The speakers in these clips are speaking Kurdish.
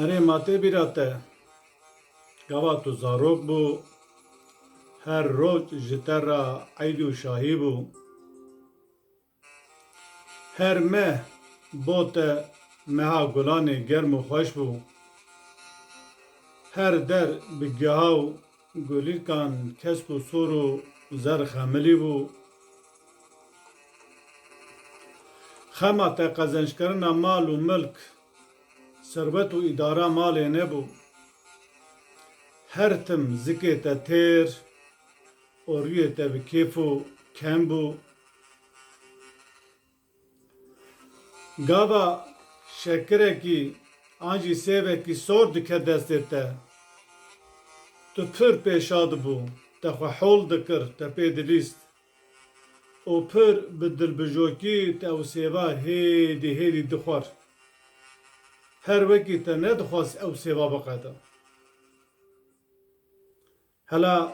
Erê ma tê bîra te, gava tu zarok bû, her roj ji te re eyd û şahî bû. Her meh bo te meha gulanê germ û xweş bû. Her der bi geha û Gulîlkan kesk û sor û zerr xemilî bû. Xema te qezenckerina mal û milk, serwet û îdara malê nebû. Her tim zikê te têr û rûyê te bi kêf û kem bû. Gava şekirekî an jî sêvekî sor dike destê te. Tu pir pêşa dibû, te xwe hol dikir, te pê dilîst û pir bi dilbijokî te ew sêva hêdî hêdî dixwar. Her wekî te nedixwast ew sêva biqede. Hela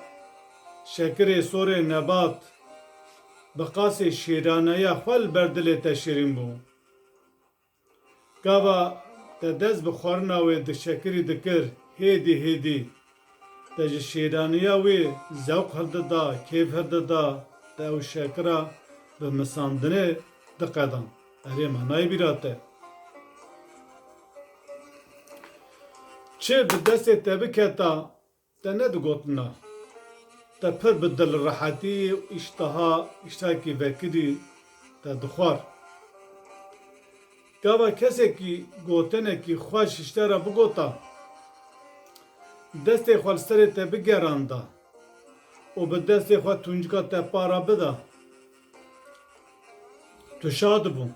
şekirê sorê Nebat bi qasê şêraneya xwe li ber dilê te şirîn bû. Gava te dest bi xwarina wê di şekirî dikir hêdî hêdî te ji şêraneya wê zewq hildida, kêf hildida, te ew şekira bi misandinê diqedan. Erê ma nayê bîra te. Çi bi destê te biketa Te ne di gotina. Te pir bi dilrehetî û îştiha îştirakî vekirî te dixwar. Gava kesekî gotinekî xweş ji te re bigota, destê xwe li serê te bigeranda û bi destê xwe tuncika te para bida, tu şadibû.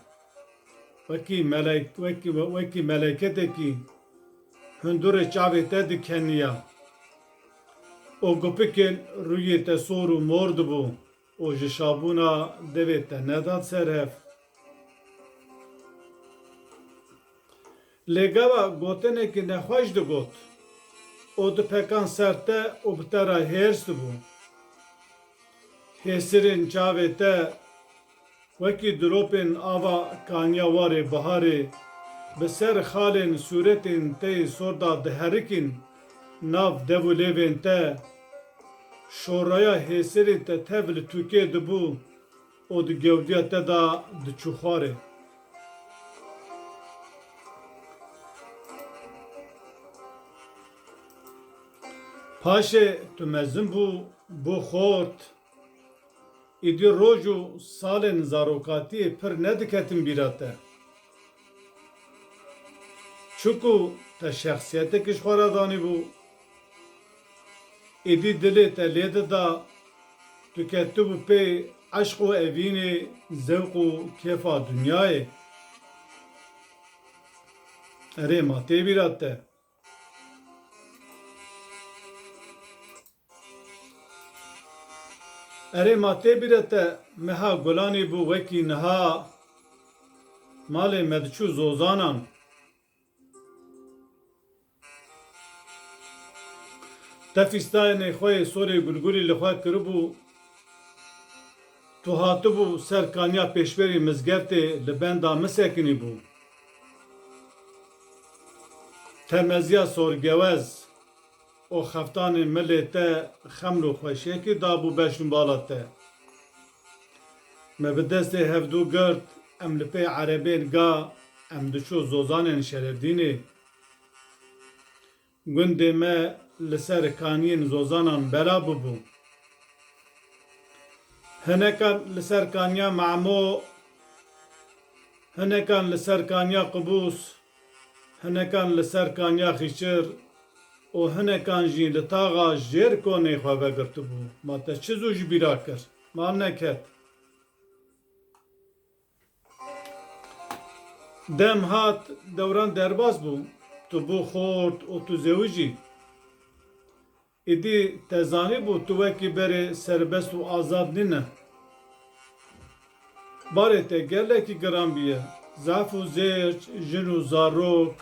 Wekî melek wekî wekî meleketekî. Hundurê çavê te dikeniya û gupikên rûyê te sor û mor dibû û ji şabûna devê te nedat ser hev. Lê gava gotinekî nexweş digot û dipekan ser te û bi te re hêrs dibû. Hêsirên çavê te. Wekî diropên ava kaniya warê biharê bi ser xalên sûretên te yê sor da diherikîn, nav dev û lêvên te şoraya hêsirên te tev li tûkê dibû û di gewdiya te da diçû xwarê. Paşê tu mezin bû, bû xort. Îdî roj û salên zarokatiyê pir nediketin bîra te. Çiku te şexsiyetekî ji xwe re danîbû. Îdî dilê te lê dida, tu ketibû pê eşq û evînê, zewq û kêfa dinyayê. Erê ma tê bîra te. Erê ma tê bîre te meha gulanê bû wekî niha malê me diçû zozanan. Te fîstayênê xwe yê sorê gulgulî li xwe kiribû, tu hatibû ser kaniya pêşberî mizgeftê li benda min sekinîbû. Te meziya sorgewez. O xeftanê milê te xemlo xweşekê dabû beşn bala te. Me bi destê hevdû girt, em li pê erebên ga em diçû zozanên Şerefdînê. Gundê me li ser kaniyên zozanan bela bûbû. Hinekan li ser kaniya Memo, hinekan li ser kaniya Qubûs Hinekan li ser Kanya Xîçir û hinekan jî li taxa Jêrkonê xwe vegirtibû. Ma te çi zû ji bîra kir? Ma neket. Dem hat, dewran derbas bû. Tu bû xort û tu zewijî. Êdî te zanîbû tu wekî berê serbest û azad nîne. Barê te gelekî giran bûye. Zaf û zêrc, jin û zarok,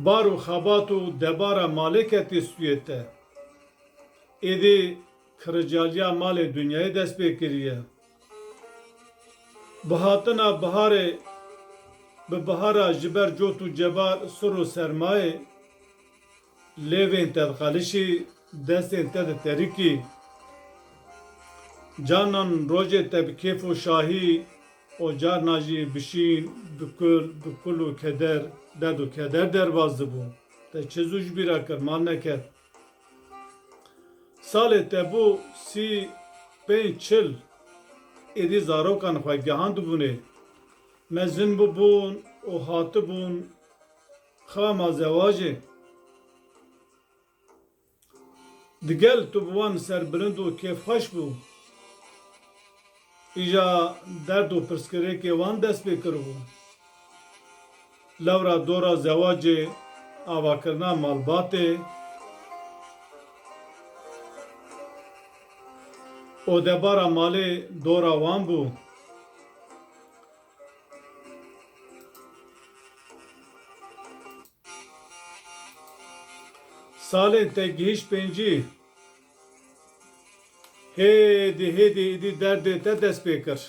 bar û xebat û debara malê ketî stûyê te. Êdî Kiricaliya malê Dunyayê dest pê kiriye. Bi hatina biharê bi bihara ji ber cot û cebar, sir û sermayê, lêvên te dixelişî, destên te diterikî. Carnan rojê te bi kêf û şahî û carna jî bi şîn, bi kul, bi kul û keder, derd û keder derbas dibû. Te çi zû ji bîr re kir, mal neket? Salê te bo sî pênc çil êdî zarokan xwe gehandibûnê. Me zin bûbûn û hatibûn xama zewacê. Digel tu bi wan serbilind û kêfxweş bû. Îja derd û pirsgirêkê wan dest pê kiribû. Lewra dora zewacê avakirina malbatê û debara malê dora wan bû. Salên te gihîşt pêncî. Hêdî hêdî îdî derdê te dest pê kir.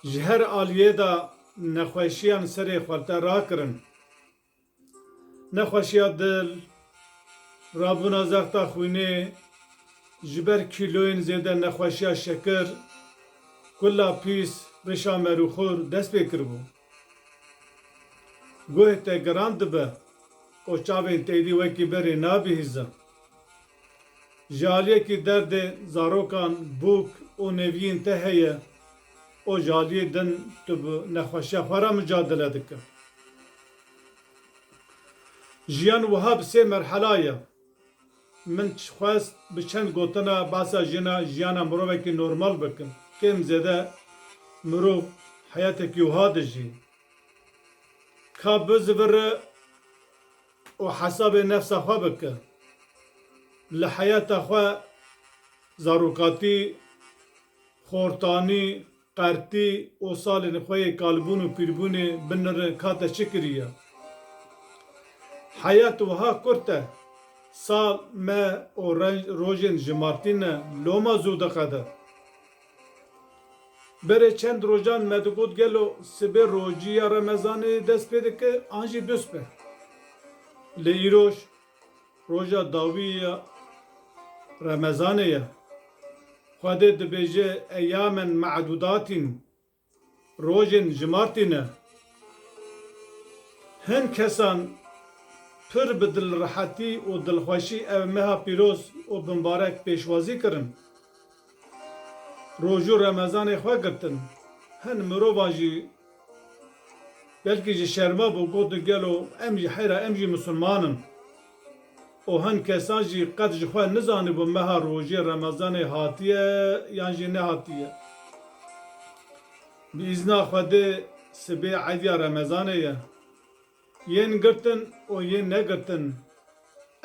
Ji her aliyê de nexweşiyan serê xwe li te rakirin. Nexweşiya dil, rabûna zexta xwînê, ji ber kîloyên zêde nexweşiya şekir, kula pîs, rişa merûxur dest pê kiribû. Guhê te giran dibe û çavên têdî wekî berê nabihîzin. Ji aliyekî derdê zarokan, bûk û nêviyên te heye û ji aliyê din tu bi nexweşiya xwe re micadele dikin. Jiyan wiha bi sê merhela ye. Min xwest bi çend gotina behsa jina jiyana mirovekî normal bikim. Kêm zêde mirov heyatekî wiha dijî ka biziviri û hesabê nefsa xwe bike. Li heyata xwe zarokatî, xortanî, Qertî û salên xwe yê kalbûn û pîrbûnê binirin ka te çi kiriye. Heyet wiha kurt e. Sal, meh û renc rojên ji Martîn ne loma zû diqede. Berê çend rojan me digot gelo sibê rojî ya Remezanê dest pê dike an jî duspe. Lê îroj. Roja dawî ya Remezanê ye. Xwedê dibêje eyyamen me'dudatîn, rojên jimartî ne. Hin kesan pir bi dilrehetî û dilxweşî ev meha pîroz û bimbarek pêşwazî kirin. Roju remezanê xwe girtin. Hin mirovan jî belkî ji şerma bû gotin gelo em jî heyra em jî misilman in. Û hin kesan jî qet ji xwe nizanibû meha rojê remezanê hatiye yan jî nehatiye. Bi îzna Xwedê sibê eydiya remezanê ye. Yên girtin û yên negirtin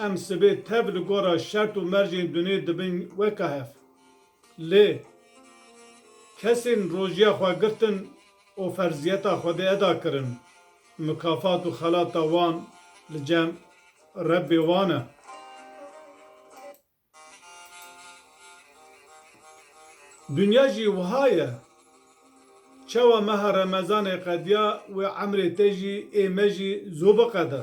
em sibê tev li gora şert û mercên dunê dibin weka hev. Lê kesên rojiya xwe girtin û ferziyeta Xwedê eda kirin, mikafat û xelata wan li cem Rebbê wan e. Dinya jî wiha ye. Çawa meha remezanê qediya wê emrê te jî ê me jî zû biqede.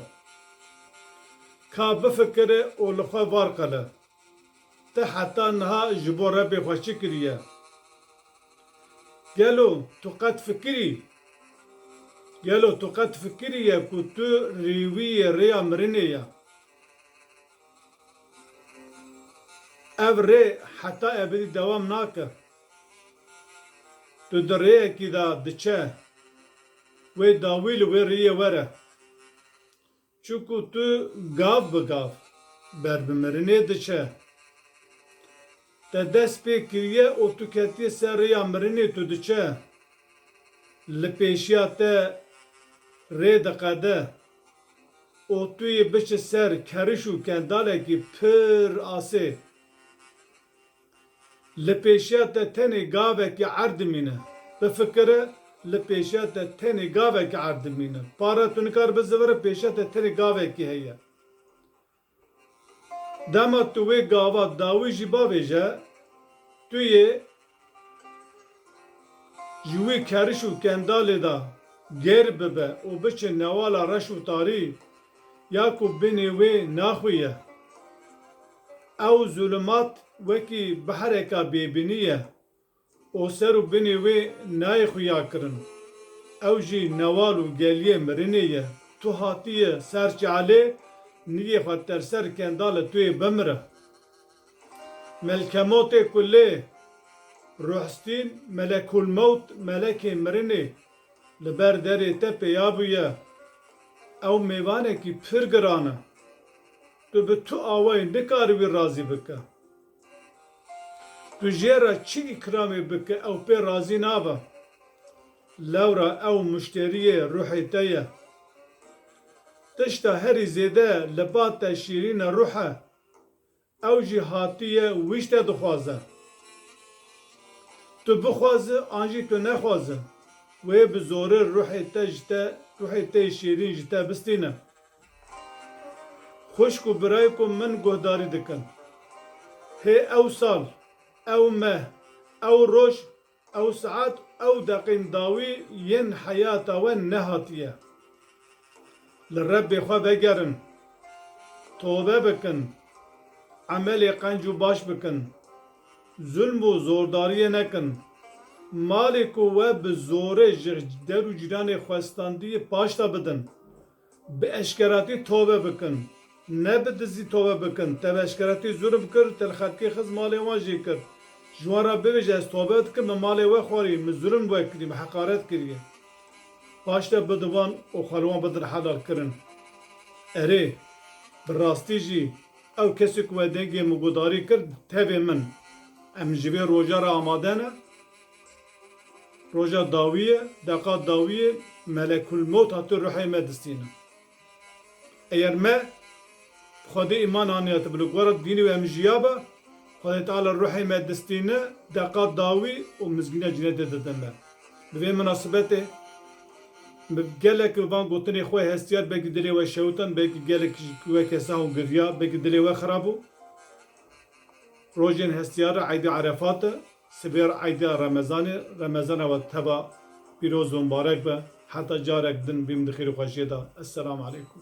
Ka bifikire û li xwe var qile. Te heta niha ji bo Rebê xwe çi kiriye? Gelo tu qet fikirî? Gelo tu qet fikiriye ku tu rêwîyê rêya mirinê ye? Ev rê heta ebedî dewam nake. Tu di rêyekî de diçe, wê dawî li wê rêyê were. Çunku tu gav bi gav ber bi mirinê diçe. Te dest pê kiriye û tu ketiye ser rêya mirinê tu diçe li pêşiya te rê diqede û tu yê biçe ser keriş û kendalekî pir asê. Li pêşiya te tenê gavekî erd dimîne. Bifikire li pêşiya te tenê gavekî erd dimîne. Para tu nikare bizivire pêşiya te tenê gavekî heye. Dema tu wê gava dawî jî bavêje, tu yê ji wî keriş û kendalê de gêr bibe û biçe newala reş û tarî ya ku binê wê naxwî ye. Ew zulumat wekî bihreka bêbinî ye. Û ser û binê wê nayê xuya kirin. Ew jî newal û geliyê mirinê ye. Tu hatiyê ser çalê, nigê xwe ter ser kendalê tu yê bimire. Melkemotê ku lê Ruhstîn, Melekulmewt, Melekê Mirinê, li ber derê te pêya bûye, ew mêvanekî pir giran e. Tu bi tu awayî nikaribî razî bike. Tu jê re çi îkramê bike ew pê razî nabe. Lewra ew muşteriyê ruhê te ye. Tişta herî zêde li ba te şîrîn e ruh e. Ew jî hatiye wî te dixwaze. Tu bixwaze an jî tu nexwaze wê bi zorê ruhê te ji te ruhê te yê şîrîn ji te bistîne. Xwişk û birayê ku min guhdarî dikin. Hê ew sal, ew meh, ew roj, ew saet, ew deqîn dawî yên heyata we nehatiye. Li Rebbê xwe vegerin, tobe bikin, emelê qenc û baş bikin, zulm û zordariyê nekin. Malê ku we bi zorê ji der û cîranê xwestandiyê paşda bidin. Bi eşkeratî tove bikin. Ne bi dizî tove bikin. Te bi eşkeratî zûlm kir, te li xelkê xiz malê wan jê kir. Ji wan re bibêje ez tove dikim, min malê we xwarî, min zûlm li we kirî, min heqaret kiriye. Paş de bi di wan û xwe li wan bidin helal kirin. Erê, bi rastî jî ew kesê ku we dengê min guhdarî kir tevê min e. Em ji vê roja re amade ne? Roja dawî ye, deqa dawî ye, melekulmewt hate ruhê me distînin. Eger me bi Xwedê îman aniya te bi li gora dînê wê em jiyaba, Xwedê Teala ruhê me distîne, deqa dawî û mizgîniya cinetê dide me. Bi vê minasibetê min gelek bi van gotinê xwe hestiyar belkî dilê we şewitan, belkî gelek jî weke sah û girya, belkî dilê we xirab bû. Rojên hestiyar re Eîdê Erefat e. Sibê re eyda Remezanê, Remezana we teva pîroz û mbarek be, heta carek din bîm di xêr û xweşiyê de. Esselam aleykum.